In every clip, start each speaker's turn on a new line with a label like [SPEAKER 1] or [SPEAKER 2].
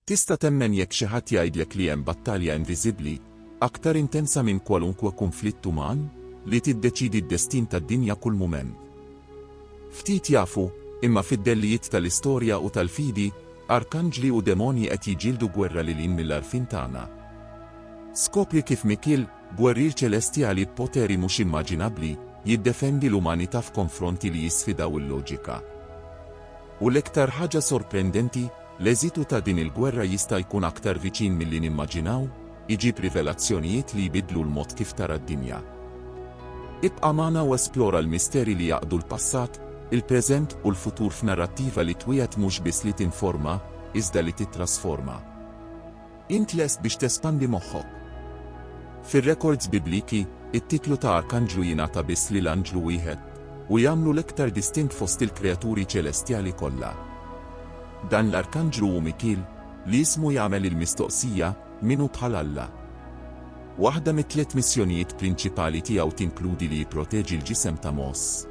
[SPEAKER 1] Tista' temmen jekk xi ħadd jgħidlek li hemm battalja inviżibbli, aktar intensa minn kwalunkwe kunflitt uman, li tiddeċiedi d-destin tad-dinja kull mument? Ftit jafu, imma fid-dellijiet tal-istorja u tal-fidi, arkanġli u demonji qed jiġġieldu gwerra lil hinn mill-għarfien tagħna. Skopri kif Mikiel, gwerrier ċelestjali b'poteri mhux immaġinabbli, jiddefendi l-umanità f'konfronti li jisfidaw il-loġika. U l-iktar ħaġa sorprendenti, L-eżitu ta' din il-gwerra jista' jkun aktar viċin milli nimmaġinaw, iġib rivelazzjonijiet li jbiddlu l-mod kif tara d-dinja. Ibqa' magħna u esplora l-misteri li jgħaqqdu l-passat, il-preżent u l-futur f'narrattiva li twiegħed mhux biss li tinforma, iżda li tittrasforma. Int lest biex tespandi moħħok? Fir-rekords Bibliki, it-titlu ta' arkanġlu jingħata biss lil anġlu wieħed, u jagħmlu l-iktar distint fost il-kreaturi ċelestjali kollha. Dan l-arkanġlu hu Mikiel, li ismu jagħmel il-mistoqsija, Min hu bħal Alla? Waħda mit-tliet missjonijiet prinċipali tiegħu tinkludi li jipproteġi l-ġisem ta' Mos.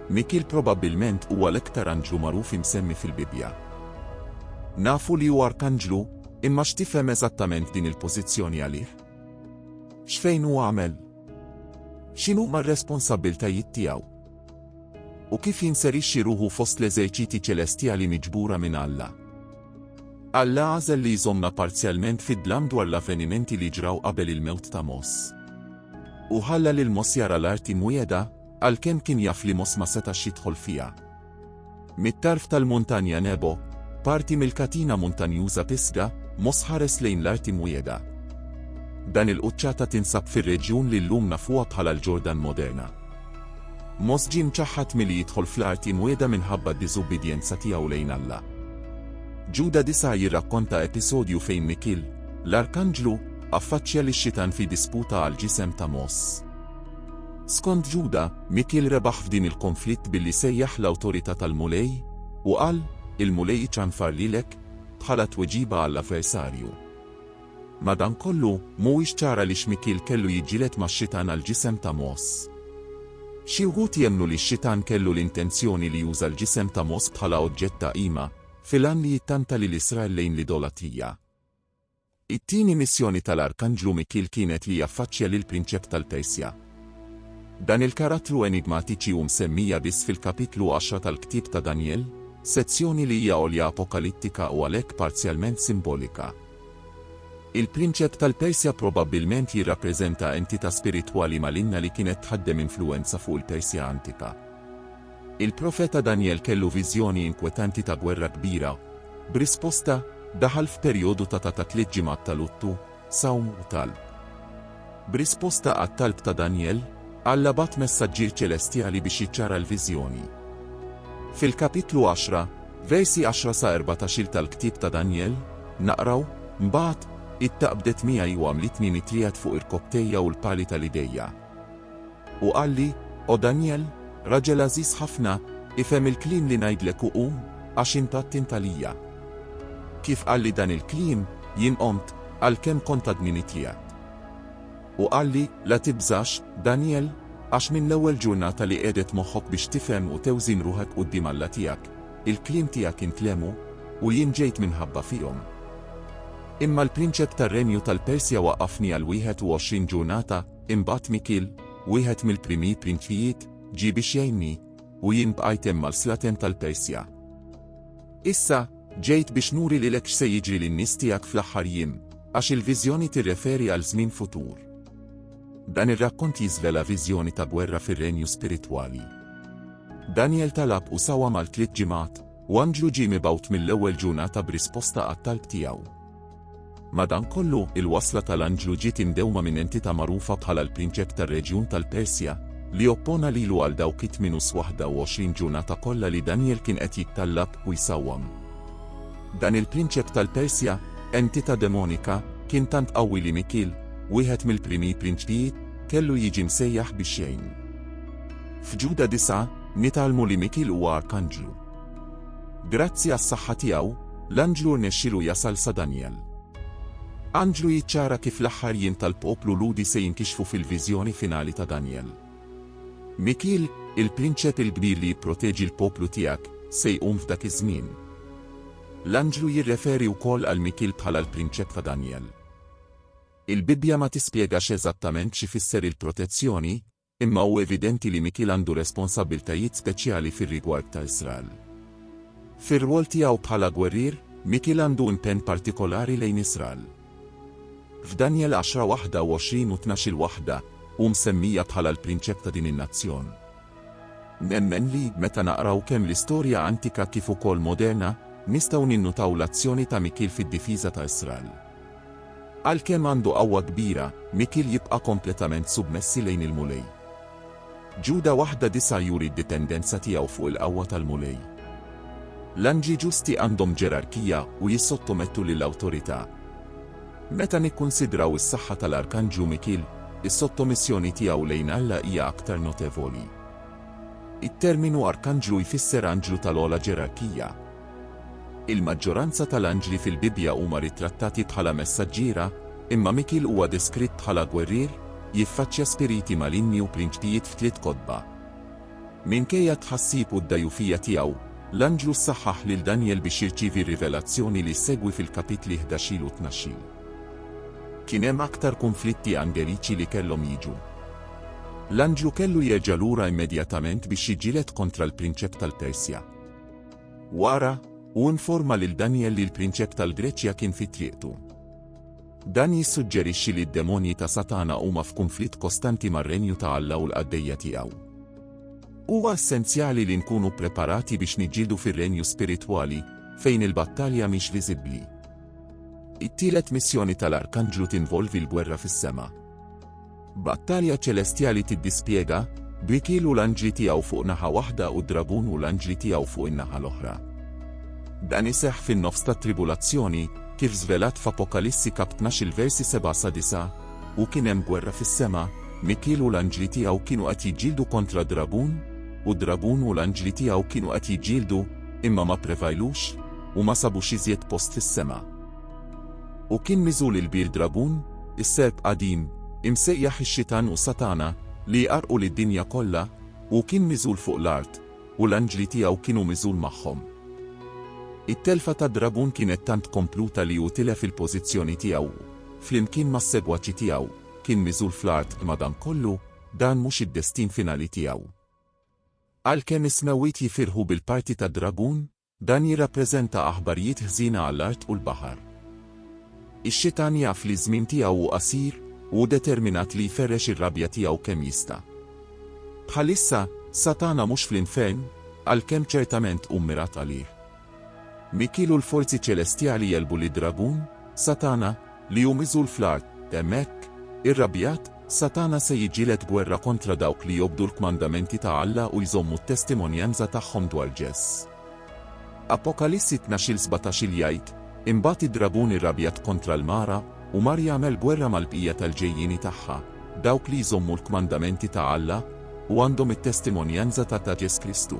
[SPEAKER 1] Mikiel probabbilment huwa l-iktar anġlu magħruf imsemmi fil-Bibbja. Nafu li hu arkanġlu, imma x'tifhem eżattament din il-pożizzjoni għalih? X'fejn hu għamel? X'inhuma r-responsabbiltajiet tiegħu? U kif jinserixxi ruħu fost l-eżerċiti ċelestjali miġbura minn Alla? Alla għażel li jżommna parzjalment fid-dlam dwar l-avvenimenti li ġraw qabel il-mewt ta' Moss. U ħalla lil Moss jara l-art imwiegħda, għalkemm kien jaf li Mos ma setax jidħol fiha. Mit-tarf tal-Muntanja Nebo, parti mill-katina muntanjuża Pisga, Mos ħares lejn l-Art Imwiegħda. Dan il-quċċata tinsab fir-reġjun li llum nafuha bħala l-Ġordan moderna. Mos ġie mċaħħad milli jidħol fl-Art Imwiegħda minħabba d-diżubbidjenza tiegħu lejn Alla. Ġuda disa' jirrakkonta episodju fejn Mikil, l-arkanġlu, affaċċja lix-Xitan fi disputa għall-ġisem ta' Mos. Skont Ġuda, Mikiel rebaħ f'din il-konflitt billi sejjaħ l-awtorità tal-Mulej, u qal, Il-Mulej iċanfar lilek, bħala tweġiba għall-avversarju. Madankollu, mhuwiex ċar għaliex Mikiel kellu jiġġieled max-xitan għall-ġisem ta' Mos. Xi wħud jemmnu li x-xitan kellu l-intenzjoni li juża l-ġisem ta' Mos bħala oġġett ta' qima, fil-għan li jittanta lil Israel lejn l-idolatija. It-tieni missjoni tal-Arkanġlu Mikiel kienet li jaffaċċja lill-Prinċep tal-Persja. Dan il-karattru enigmatiċi hu msemmija biss fil-Kapitlu għaxra tal-Ktieb ta' Danjel, sezzjoni li hija għolja apokalittika u għalhekk parzjalment simbolika. Il-Prinċep tal-Persja probabbilment jirrappreżenta entità spiritwali malinna li kienet tħaddem influwenza fuq il-Persja antika. Il-profeta Danjel kellu viżjoni inkwetanti ta' gwerra kbira. B'risposta, daħal f'perjodu ta' ta' ta' tliet ġimgħat ta' luttu, sawm u talb. B'risposta għat-talb ta' Danjel, Alla bagħat messaġġier ċelestjali biex jiċċara l-viżjoni. Fil-kapitlu għaxra, versi għaxra sa erbatax-il tal-ktieb ta' Danjel, naqraw, Mbagħad, id-daqq bdiet miegħi u għamlitni nitriegħed fuq irkopptejja u l-pali tal-idejja. U qalli, O Danjel, raġel għażiż ħafna, ifhem il-kliem li ngħidlek u qum, għax int attent għalija. Kif qalli dan il-kliem, jien qomt, għalkemm kont għadni mitliegħed. U qalli, La tibżax, Danjel, għax minn l-ewwel ġurnata li qiegħdet moħħok biex tifhem u tewżin ruħek quddiem Alla tiegħek, il-kliem tiegħek intlehmu, u jien ġejt minħabba fihom. Imma l-prinċep tar-renju tal-Persja waqqafni għal wieħed u għoxrin ġurnata, Imbagħad Mikiel, wieħed mill-primi prinċijiet, ġie biex jgħinni, u jien bqajt hemm għal slaten tal-Persja. Issa, ġejt biex nuri lilek x'se jiġri lin-nies tiegħek fl-aħħar jiem, għax il-viżjoni tirreferi għal żmien futur. Dan ir-rakkont jiżvela viżjoni ta' gwerra fir-renju spiritwali. Daniel talab u sawa mal tliet ġimgħat, u anġlu ġie mibgħut mill-ewwel ġurnata b'risposta għat-talb tiegħu. Madankollu, il-wasla tal-anġlu ġiet imdewma minn entità magħrufa bħala l-prinċep tar-reġjun tal-Persja, li oppona lilu għal dawk it-28 ġurnata kollha li Danjel kien qed jittallab u jsawwam. Dan il-prinċep tal-Persja, entità demonika, kien tant qawwi li Mikiel, wieħed mill-primi prinċpijiet, kellu jiġi msejjaħ biex jgħinu. F'Ġuda 9, nitgħallmu li Mikiel huwa arkanġlu. Grazzi għas-saħħa tiegħu, l-anġlu rnexxielu jasal sa Danjel. Anġlu jiċċara kif l-aħħar jiem tal-poplu Lhudi se jinkixfu fil-viżjoni finali ta' Danjel. Mikiel, il-prinċep il-kbir li jipproteġi l-poplu tiegħek, se jqum f'dak iż-żmien. L-anġlu jirreferi wkoll għal Mikiel bħala l-prinċep ta' Danjel. Il-Bibbja ma tispjegax eżattament x'ifisser il-protezzjoni, Imma hu evidenti li Mikiel għandu responsabbiltajiet speċjali fir-rigward ta' Israel. Fir-rwol tiegħu bħala gwerrier, Mikiel għandu impenn partikolari lejn Israel. F'Danjel għaxra waħda u għoxrin u tnax il waħda, hu msemmija bħala l-prinċep ta' din in-nazzjon. Nemmen li, meta naqraw kemm l-istorja antika kif ukoll moderna, nistgħu ninnutaw l-azzjoni ta' Mikiel fid-difiża ta' Israel. Għalkemm għandu qawwa kbira, Mikiel jibqa' kompletament submessi lejn il-Mulej. Ġuda 1:9 juri d-dipendenza tiegħu fuq il-qawwa tal-Mulej. L-anġli ġusti għandhom ġerarkija u jissottomettu lil awtorità. Meta nikkunsidraw is-saħħa tal-arkanġlu Mikiel, is-sottomissjoni tiegħu lejn Alla hija aktar notevoli. It-terminu arkanġlu jfisser anġlu tal-ogħla ġerarkija. Il-maġġoranza tal-anġli fil-Bibbja huma ritrattati bħala messaġġiera, imma Mikiel huwa deskritt bħala gwerrier, jiffaċċja spiriti malinni u prinċpijiet f'tliet kotba. Minkejja t-tħassib u d-dgħjufija tiegħu, l-anġlu ssaħħaħ lil Danjel biex jirċievi r-rivelazzjoni li ssegwi fil-kapitli ħdax-il u tnax-il. Kien hemm aktar kunflitti angeliċi li kellhom jiġu. L-anġlu kellu jerġa' lura immedjatament biex jiġġieled kontra l-prinċep tal-Persja. Wara, hu informa lil Danjel li l-prinċep tal-Greċja kien fi triqtu. Dan jissuġġerixxi li d-demonji ta' Satana huma f'kunflitt kostanti mar-Renju ta' Alla u l-qaddejja tiegħu. Huwa essenzjali li nkunu ppreparati biex niġġieldu fir-renju spiritwali, fejn il-battalja mhix viżibbli. It-tielet missjoni tal-arkanġlu tinvolvi l-gwerra fis-sema. Battalja ċelestjali tiddispjega, B'Rikiel u l-anġli tiegħu fuq naħa waħda u d-dragun u l-anġli tiegħu fuq in-naħa l-oħra. Dan iseħħ fin-nofs tat-tribulazzjoni, kif żvelat f'Apokalissi kap. Tnax il-versi seba' sa disgħa, U kien hemm gwerra fis-sema, Mikiel u l-anġli tiegħu kienu qed jiġġieldu kontra d-dragun, u d-dragun u l-anġli tiegħu kienu qed jiġġieldu, imma ma pprevajlux, u ma sabux iżjed post fis-sema. U kien miżul il-bir dragun, is-serp qadim, imsejjaħ ix-Xitan u Satana, li jqarrqu lid-dinja kollha, hu kien miżul fuq l-art, u l-anġli tiegħu kienu miżul magħhom. It-telfa tad-dragun kienet tant kompluta li hu tilef il-pożizzjoni tiegħu u, flimkien mas-segwaċi tiegħu, kien miżul fl-art imma dan kollu, dan mhux id-destin finali tiegħu. Għalkemm is-smewwiet jifirħu bil-parti tad-dragun, Dan jirrappreżenta aħbarijiet ħżiena għall-art u l-baħar. Ix-Xitan jaf li ż-żmien tiegħu hu qasir, u hu determinat li jferrex ir-rabja tiegħu kemm jista'. Bħalissa, Satana mhux fl-infern, għalkemm ċertament hu mmirat għalih. Mikiel u l-forzi ċelestjali għelbu lid-dragun, Satana, li hu miżul fl-art, hemmhekk, irrabjat, Satana se jiġġieled gwerra kontra dawk li jobdu l-kmandamenti ta' Alla u jżommu t-testimonjanza tagħhom dwar Ġes. Apokalissi tnax-il sbatax-il jgħid, Imbagħad id-dragun irrabjat kontra l-mara, u mar jagħmel gwerra mal-bqija tal-ġejjieni tagħha, dawk li jżommu l-kmandamenti ta' Alla, u għandhom it-testimonjanza ta' ta' Ġes Kristu.